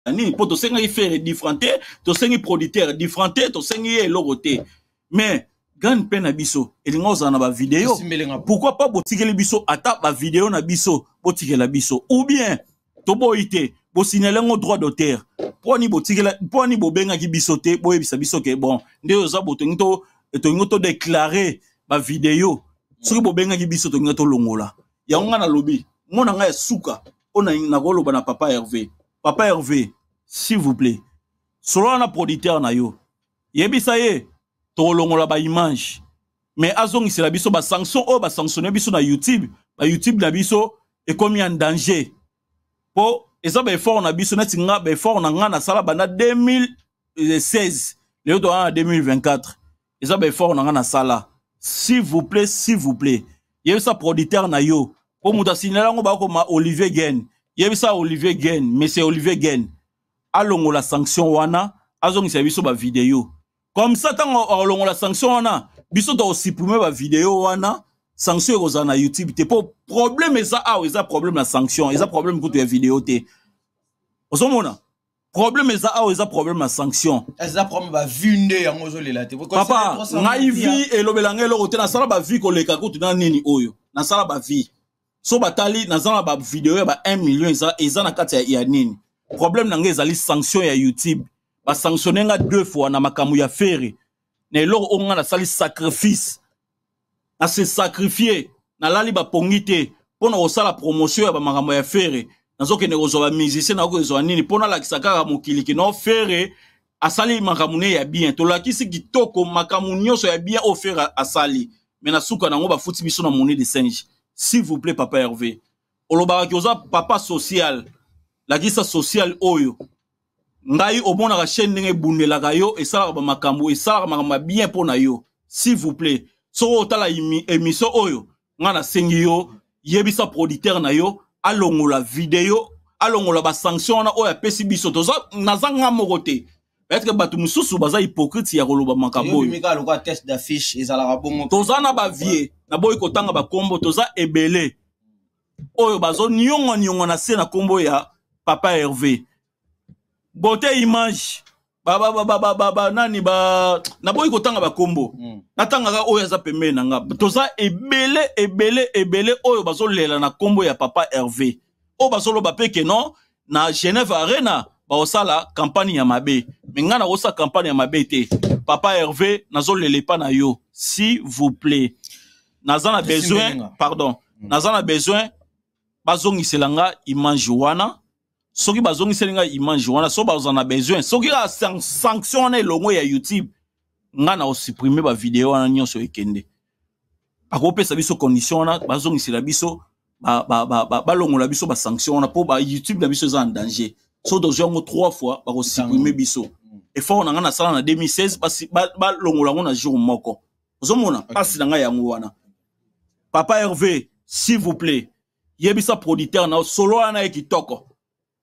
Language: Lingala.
na nini mpo tosengaki fere different te tosengi producteur different te tosengi ye eloko te mais grande mpe na biso elinga ozala na bavideo pourkui pas botikeli biso ata bavideo na biso botikela biso ou bien toboyi te bosignale yango droit d'auteur mponi botikela mponi bobengaki biso te boyebisa biso ke bon nde oza botongi to tolingi todeclare bavideo soki bobengaki biso tolingi tolongola yango ngai nalobi mona ngai ya suka mpo nakoloba na papa herve papa herve s'il vous plaît solola na producteur na yo yebisa ye tokolongola baimage mais azongisela biso basanction oyo basanctionne biso na youtube bayoutube na biso ekomi en danger mpo eza baeffort na biso neti nga baeffort na ngai nasala banda 2016 lelo toaa na 2024 eza ba effort na nga na sala s'il vous plaît s'il vous plaît yebisa producteur na yo po moto asignala yango bakoma olivier gen yebisa olivier gen monsieur olivier gen alongola sanction wana azongisa biso ba video comme ça ntango akolongola sanction wana biso tokosupprime ba video wana sanction ekozala na youtube te mpo problème eza awa eza problème na sanction eza problème kutu ya video te ozomona problème eza awa eza problème ya sanction eza problème ba vue nde yango ozolela te papa ngai vie elobela ngai eloko te nasala ba vie koleka kutu na nini oyo nasala ba vie so batali naza na ba video ya ba 1 million eza, eza na kati ya, ya nini problème na ngai ezali sanction ya youtube basanctionne nga deux fois na makambo ya fere na eloko oyo ngai nasali sacrifice na se sacrifier nalali bapongi te mpo na kosala promotion ya bamakambo ya fere nazokende kozwa bamusicien nakozwa nini mpo nalakisa kaka mokili kino fere asali makambo ne ya bien tolakisi kitoko makambo nyonso ya bien oyo fere asali me na suka nango bafuti biso na moni de singe s'il vous plaît papa herve olobaka ki oza papa social lakisa social oyo ngai omonaka chaîne ndenge ebundelaka yo esalaka bamakambo esalaka makambo ya bien mpo na yo s'il vous plaît soki otala émission oyo ngai nasengi yo yebisa producteur na yo alongola video alongola basanction wana oyo apesi biso toza naza nga moko te etre bato mosusu baza hypocrite ya koloba makambo oyo toza na bavie naboyi kotanga bakombo toza ebele oyo bazo niongo niongo na se na kombo ya papa Hervé bote image ba ba ba ba ba ba nani ba naboyi kotanga ba kombo mm. natangaka oyo aza pembeni na nga toza ebele ebele ebele oyo bazolela na kombo ya papa Hervé oyo bazoloba pe ke non na genève arena baosala campagne ya mabe me ngai nakosala campagne ya mabe te papa herve nazolela epa na yo si vous plaît naza na besoin pardon mm. naza na besoin bazongisela nga image wana soki bazongiseli nga image wana soki baza na besoin soki kaka sanction wana elongo ya youtube nga na osupprime bavideo wana nyonso ekende bakopesa biso condition wana bazongisela biso balongola biso basanction wana mpo bayoutube na biso eza en danger so tozwi yango trois fois bakosupprime biso mm. effort na ngai nasala na 2016 balongola yango na jour moko ozomona mpasi na ngai yango wana papa herve s'il vous plaît yebisa producteur na solo wana ye kitoko